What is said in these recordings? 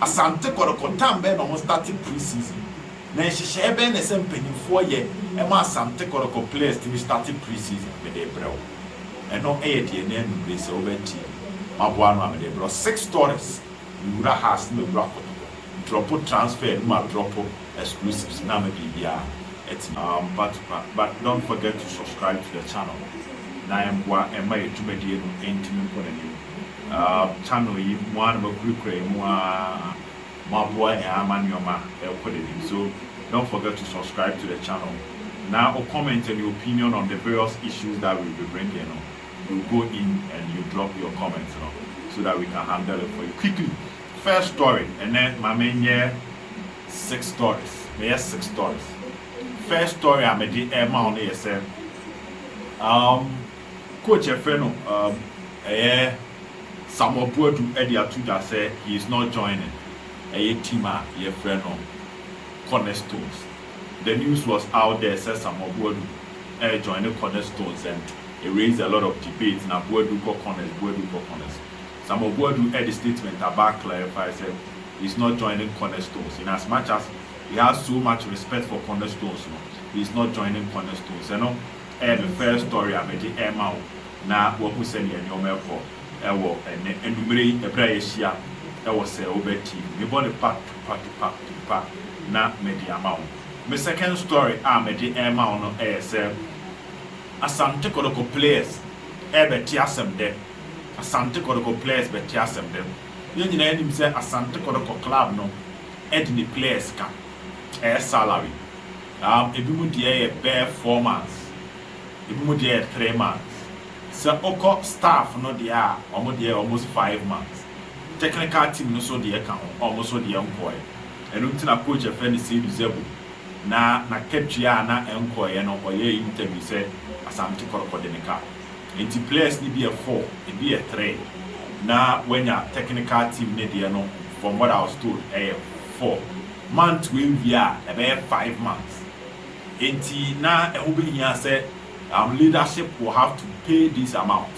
Asante Kɔtɔkɔ tam bɛn na ɔmo starte pre season? Na nhyehyɛɛ bɛn na ɛsɛ mpanyinfoɔ yɛ ma Asante Kɔtɔkɔ players tumi starte pre season? Mede rebrɛ wo. Ɛno yɛ deɛ ɛnɛ anummerɛ sɛ wobɛn TV maboa ano a mede rebrɛ wo six stories, mewura Hearts na mewura Kɔtɔkɔ, drɔpo transfer no ma drɔpo exclusives na ama biribiara atumi. Ampa tukpa but don't forget to subscribe to the channel na ɛmboa ɛma yɛ dwumadie no ntumi nkɔ n'anim. Aah channel yi mo ara na moakurakura yi mo ara moaboa yɛn ara ma nneɛma ɛrekɔ n'anim so don't forget to subscribe to the channel na wo comment and your opinion on the various issues that we will be bringing no you go in and you drop your comment no so that we can handle it for you quickly first story ɛnɛ ma me nyɛ six stories meyɛ six stories first story a mede ɛrema wo no yɛ sɛ umm. Coach yɛfrɛ no um ɛyɛ Samuel Boadu de ato dwa sɛ he is not joining ɛyɛ team a yɛfrɛ no Cornerstones. The news was out there sɛ Samuel Boadu rejoine Cornerstones and it raised a lot of debate na Boadu kɔ Corners, Boadu kɔ Corners. Samuel Boadu de statement aba a clarify sɛ he is not joining Cornerstones. In as much as he has so much respect for Cornerstones no, he is not joining Cornerstones. Ɛno. Ɛyɛ me first story a mede rema wo na woahu sɛnea nneɛma rekɔ wɔ ɛnnɛ anwummere yi bere a yɛahyia wɔ Sɛ Wobɛ TV. Mebɔ no pa tupa tupa tupa na mede ama wo. Me second story a mede rema wo no yɛ sɛ Asante Kɔtɔkɔ players rebɛte asɛm dɛ. Asante Kɔtɔkɔ players bɛte asɛm dɛ. Yɛn nyinaa nim sɛ Asante Kɔtɔkɔ club no de ne players ka ɛyɛ salary. Na ebinom deɛ yɛ bɛyɛ four months, ebinom deɛ yɛ three months. Sɛ wokɔ staff no deɛ a, wɔn deɛ yɛ almost five months. Technical team no nso deɛ ka ho, wɔn nso deɛ nkɔeɛ. Ɛno nti na coach a yɛfrɛ no Seydou Zebou, na n'akatua a na ɛnkɔeɛ no, ɔyɛɛ interview sɛ Asante Kɔrɔkɔ de no ka. Enti players no bi yɛ four, ebi yɛ three, na woanya technical team no deɛ no, from what I was told, ɛyɛ four. Month wei wie a ɛbɛyɛ five months nti na ɛho bɛhia sɛ um leadership will have to pay this amount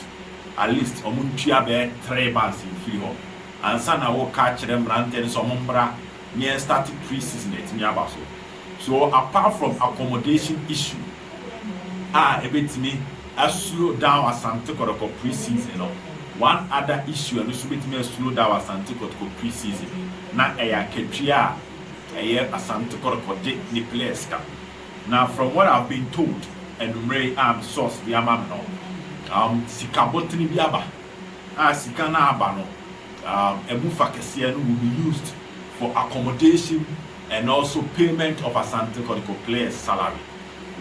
at least wɔn ntua bɛyɛ three months mfiri hɔ ansa na woka akyerɛ mmeranteɛ no sɛ wɔn mmra na yɛn start pre-season atumi aba so so apart from accommodation issue a ɛbɛtumi a slow down Asante Kɔtɔkɔ pre-season no. One other issue a ɛno nso bɛtumi a slow down Asante Kɔtɔkɔ pre-season na ɛyɛ akatua a ɛyɛ Asante Kɔtɔkɔ de ne players ka. Na from what I have been told anwummerɛ yi a me source de ama me no, um sika bɔtene bi aba a sika no a aba no um ɛmu fa kɛseɛ no will be used for accommodation And also payment of Asante Kotoko players salary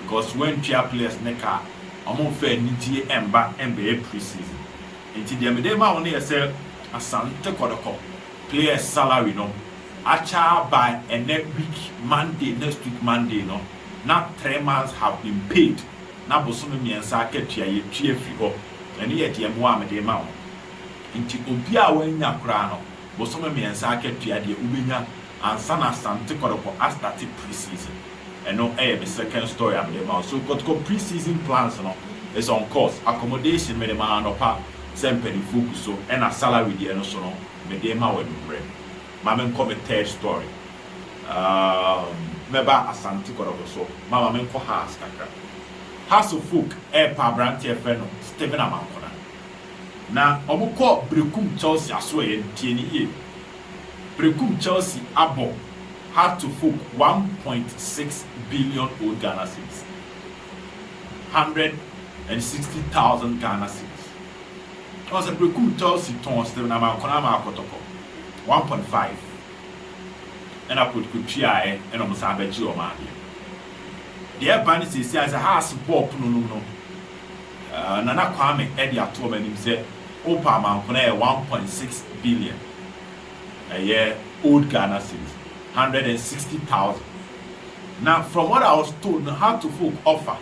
because wantua players no ka a, ɔmo mfa anigyeɛ ɛmma ɛmbɛyɛ pre-season. Nti deɛ mede rema wo no yɛ sɛ Asante Kotoko players salary no akyɛ ara by ɛnɛ week Monday, next week Monday no na three months have been paid na bosome mmiɛnsa akatua yɛatua afiri hɔ. Ɛno yɛ deɛ mmoa a mede rema wo. Nti obiara a wannya koraa no bosome mmiɛnsa akatua deɛ wobɛnya. ansa na Asante Kɔtɔkɔ astarte pre-season. Ɛno yɛ me second story a mede rema wo. So Kɔtɔkɔ pre-season plans no is on course. Accommodation mede ma anɔpa sɛ mpaninfoɔ gu so ɛna salary deɛ no so no mede rema wo anwummerɛ. Ma me nkɔ me third story. Umm mɛba Asante Kɔtɔkɔ so ma ma me nkɔ Hass kakra. Hass folk repɛ aberanteɛ a yɛfrɛ no Steven Amankona. Na wɔkɔ Berekum Chelsea asoɛeɛ no, tie no yie. Prekum Chelsea abɔ Hard to Folk one point six billion old Ghana cedis, hundred and sixty thousand Ghana cedis. Ɔn sɛ Prekum Chelsea tɔn Steven Amankona ama Kɔtɔkɔ one point five ɛna Kotoko tuaɛ ɛna ɔmo san bɛgyee ɔmo adeɛ. Deɛ ɛba ne seesei ara ne sɛ Hearts bɔɔ pono nom no. Nana Kwame de ato wɔn anim sɛ wopɛ amanko no a ɛyɛ one point six billion, ɛyɛ old Ghana cedis, hundred and sixty thousand. Na from what I was told no Hartlefolk offer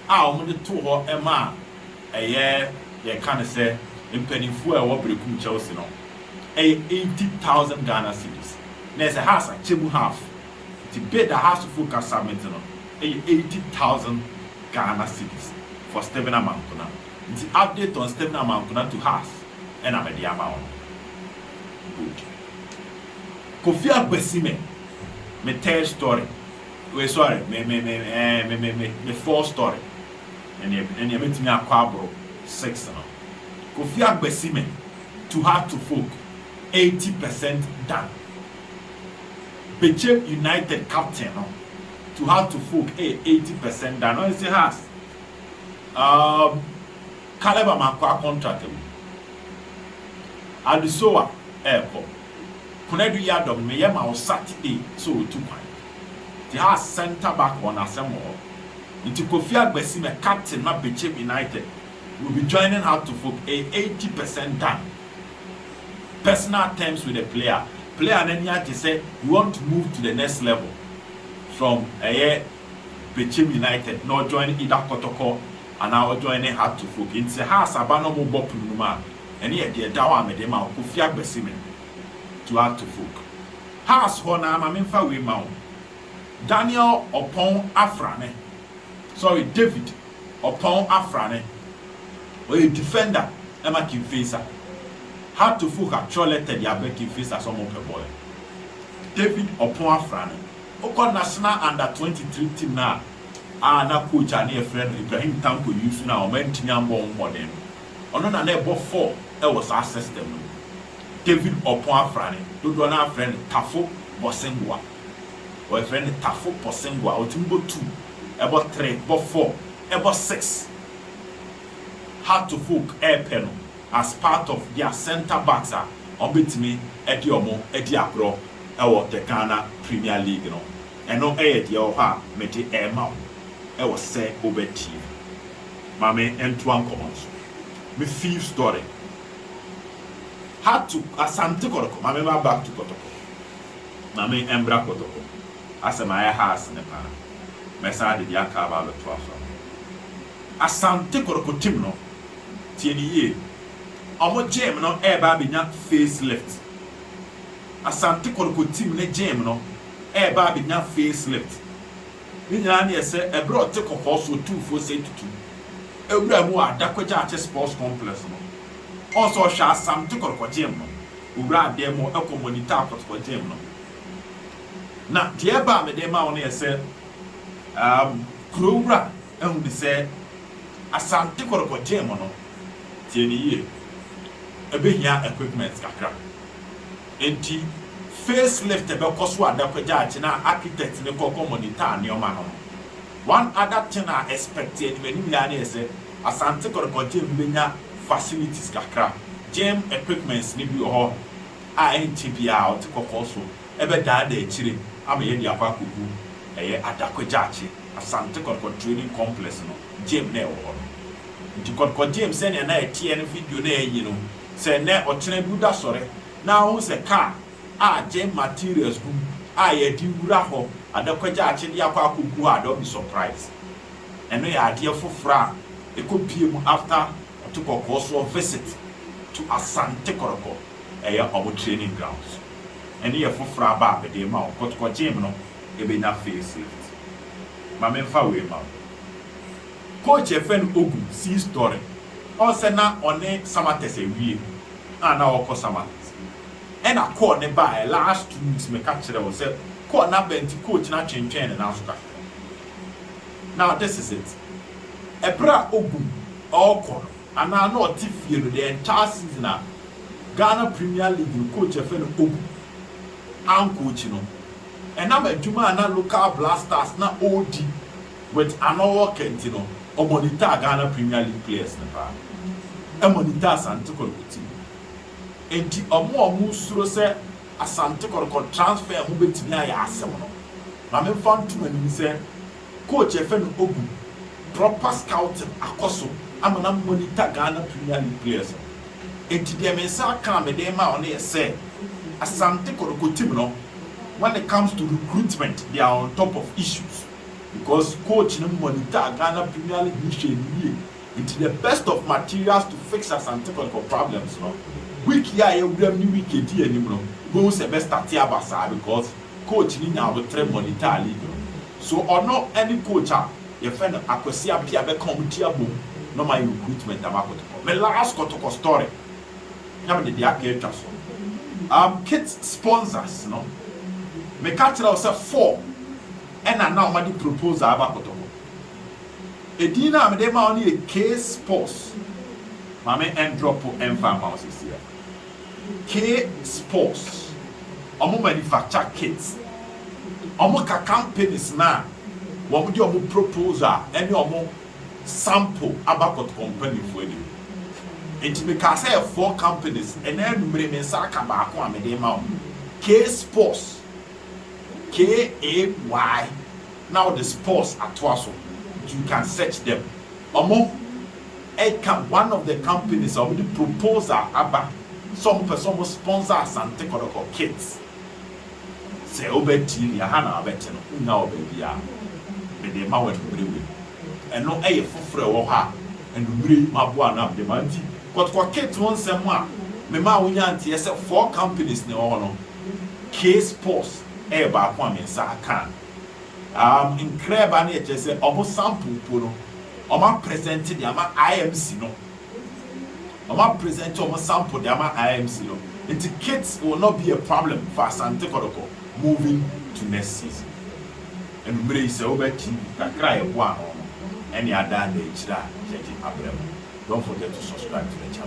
a wɔde too hɔ maa ɛyɛ yɛka no sɛ mpanimfoɔ a ɛwɔ Berekum Chelsea no ɛyɛ eighty thousand Ghana cedis, na ɛsɛ Hearts akyɛ mu half. Ntsi bid a Asufo ka submit no yɛ eighty thousand Ghana cedis for Stephen Amankuna ntsi update on Stephen Amankuna to Haas na mede ama wo no. Good. Kofi Akwasime me third story wei sorry me me me eh me me me me fourth story ɛneɛ ɛneɛ mɛtumi akɔ aboro six no. Kofi Akwasime to Hato folk eighty percent done. Bechem United captain no to her to folk ɛyɛ eighty percent done ɔyɛ sɛ has um Caleb Amankwaa contract agu Adusoa ɛɛkɔ Konadu Yiadom meyɛ ma wo Saturday sɛ ɔtu kwan nti has centre back wɔ n'asɛm wɔ hɔ nti Kofi Agbesime captain ma Bechem United We'll be joining up to form a eighty percent gang, personal terms with the player, player no ani agye sɛ he want to move to the next level from ɛyɛ Bechem United na ɔjoine either Kɔtɔkɔ anaa ɔjoine Heart to Folk nti sɛ Hearts aba na ɔmo bɔ pono no mu a ɛne yɛ deɛ ɛda hɔ a me de ma wo Kofi Agbesime to Heart to Folk Hearts hɔ no ara ma me nfa wei ma wo. Daniel Ɔpɔn Afrane, sorry, David Ɔpɔn Afrane, ɔyɛ defender ma Kimfesa. Hato Fuha twerɛ lɛtɛ de abrɛ Kimfesa sɛ wɔpɛ bɔɔl no. David Ɔpɔn Afrane, wokɔ National Under twenty three team no a, a na coach a na yɛfrɛ no Ibrahim Tanko Yusu no a wɔantumi ammɔ ho mmɔden no, ɔno na na ɛbɔ four wɔ saa system no mu. David Ɔpɔn Afrane, dodoɔ no ara frɛ no Tafo Bosenboa. Wɔfrɛ no tafo pɔsengo a otumi bɔ two, bɔ three, bɔ four, bɔ six. Hartlefolk repɛ no as part of their centre backs a wɔbetumi de wɔn adi agorɔ wɔ the Ghana Premier League no. Ɛno yɛ deɛ ɛwɔ hɔ a mede rema wo wɔ sɛ wobɛtie mu. Ma me ntoa nkɔmmɔ no so. Me fifth story, Hartle, Asante Kɔtɔkɔ, ma me mma back to Kɔtɔkɔ. Ma me mbra kotoko. Asɛm ayɛ haas ne paa. Mɛsan ade bi aka aba abɛtoa so ama wo. Asante korokotem no, tie no yie, ɔmo gyeem no ɛɛba abɛnya face lift. Asante korokotim ne gyeem no ɛɛba abɛnya face lift. Ne nyinaa ne yɛ sɛ ɛberɛ a ɔte kɔkɔɔ so ɔtu nfuo sɛe tutum ɛwura mu wɔ Adako Gyaakye Sports Complex no, ɔn sɛ ɔhwɛ Asante korokogyem no owuraa dan mu hɔ kɔ monitaa kɔtɔkɔ gyem no. Na deɛ ɛba a mede rema wo no yɛ sɛ, um, kuro wura ahu ne sɛ Asante kɔtɔkɔ gyem no, tie ne yie, ɛbɛhia equipment kakra. Enti face lift bɛkɔ so a da kɔgya akye na architect no kɔ kɔ monitaa nneɛma no. One other thing a expect anim anim yi ara ne sɛ Asante Kɔtɔkɔ Gym bɛnya facilities kakra. Gym equipments no bi wɔ hɔ a ɛnkyɛ biara ɔte kɔkɔɔ so ɛbɛdaadaa akyire ama yɛde akɔ akɔgu. Ɛyɛ Adako Gyaakye, Asante Kɔtɔkɔ Training Complex no gym na ɛwɔ hɔ no. Nti Kɔtɔkɔ Gym sɛnea na ɛteɛ no video no a ayi no, sɛ nnɛ ɔkyena bi wodasɔre na wohu sɛ car, a gye materials gu mu a yɛde wura hɔ adakɔgya akyede akɔ akɔgu a don't be surprised ɛno yɛ adeɛ foforɔ a ɛkɔ pie mu after ɔte kɔkɔɔ soɔ visit to Asante Kɔrɔkɔ ɛyɛ wɔn training grounds ɛno yɛ foforɔ aba a mede rema wo kɔtokɔ gyem no ɛbɛnya face lift ma me mfa wei ma wo coach yɛfrɛ no Ogu see story ɔn sɛ na ɔne Samatex awie a na ɔkɔ Samatex. ɛna call no baeɛ last two weeks meka kyerɛɛ wo sɛ call no aba nti coach no atwentwɛn ne nan so kakra now this is it ɛberɛ a ɔgu mu ɔɔkɔ no anaa na ɔte fie no the entire season a Ghana premier league no coach yɛfrɛ no Ogu ancoach no ɛnam adwuma a na local blasters na ɔɔdi with Arnold Walker nti no ɔmonitor Ghana premier league players no paa ɛmonitor Asante Kotoko team no. Enti wɔn a wɔsuro sɛ Asante Kɔtɔkɔ transfer ho betumi ayɛ asɛm no, ma memfa nto mo anim sɛ coach a yɛfrɛ no Ogu, proper scouting akɔ so ama no a monitor Ghana Premier League players no. Enti deɛ me nsa aka a mede rema wo no yɛ sɛ, Asante Kɔtɔkɔ team no, when it comes to recruitment, they are on top of issues because coach no monitor Ghana Premier League no hwɛ no yie. Nti the best of materials to fix Asante Kotoko problems no, week yi a yɛwura mu ne week edi anim no, wubehu sɛ ɛbɛ starte aba saa because coach no nya abotere monitor league no. So ɔno ne coach a yɛfrɛ no Akwasi Appiah bɛka wɔn ti abom na wɔayɛ recruitment ama Kotoko. Me last Kotoko story na mede deɛ aka atwa so. Um kit sponsors no, meka kyerɛɛ wo sɛ four na na wɔde proposal reba Kotoko. Edin no a mede rema wo no yɛ Case Pos. Ma me ndrɔpo mfa mma wo sesiɛ. Case Pos, wɔn manufacture kits. Wɔn ka companies no a wɔn de wɔn proposal ɛne wɔn sample aba kɔtɔ mpanyinfoɔ anim. Nti me kaa sɛ yɛ four companies, ɛnɛ anumere me nsa aka baako a mede rema wo. Case Pos, K-A-Y. na ɔde spores atoa so nti you can search them. Ɔmo ɛka one of the companies a ɔmo de proposal aba sɛ ɔmo pɛ sɛ ɔmo sponsor Asante Kɔtɔkɔ kids. Sɛ wo bɛ tie deɛ ha na wa bɛ te no, wo nnya wɔ baabiaa. Me de ma wo anumere wei. Ɛno ɛyɛ foforɔ ɛwɔ hɔ a anumere yi ma boa ano a me de ma wo. Nti Kɔtɔkɔ kids ho nsɛm a me maa wo nyaa nteɛ sɛ four companies na ɛwɔ hɔ no, K spores ɛyɛ baako a me nsa aka a. um nkrɛɛbaa no yɛ kyerɛ sɛ ɔmo sample mpo no ɔmo apresent de ama IMC no ɔmo apresent ɔmo sample de ama IMC no nti kit will not be a problem for Asante Kɔtɔkɔ moving to next season ɛnu mmerɛ yi sɛ wobɛ TV kakra a yɛboa ano no ɛne adaa na akyire a yɛgye abrɛ mo don't forget to subscribe to the channel.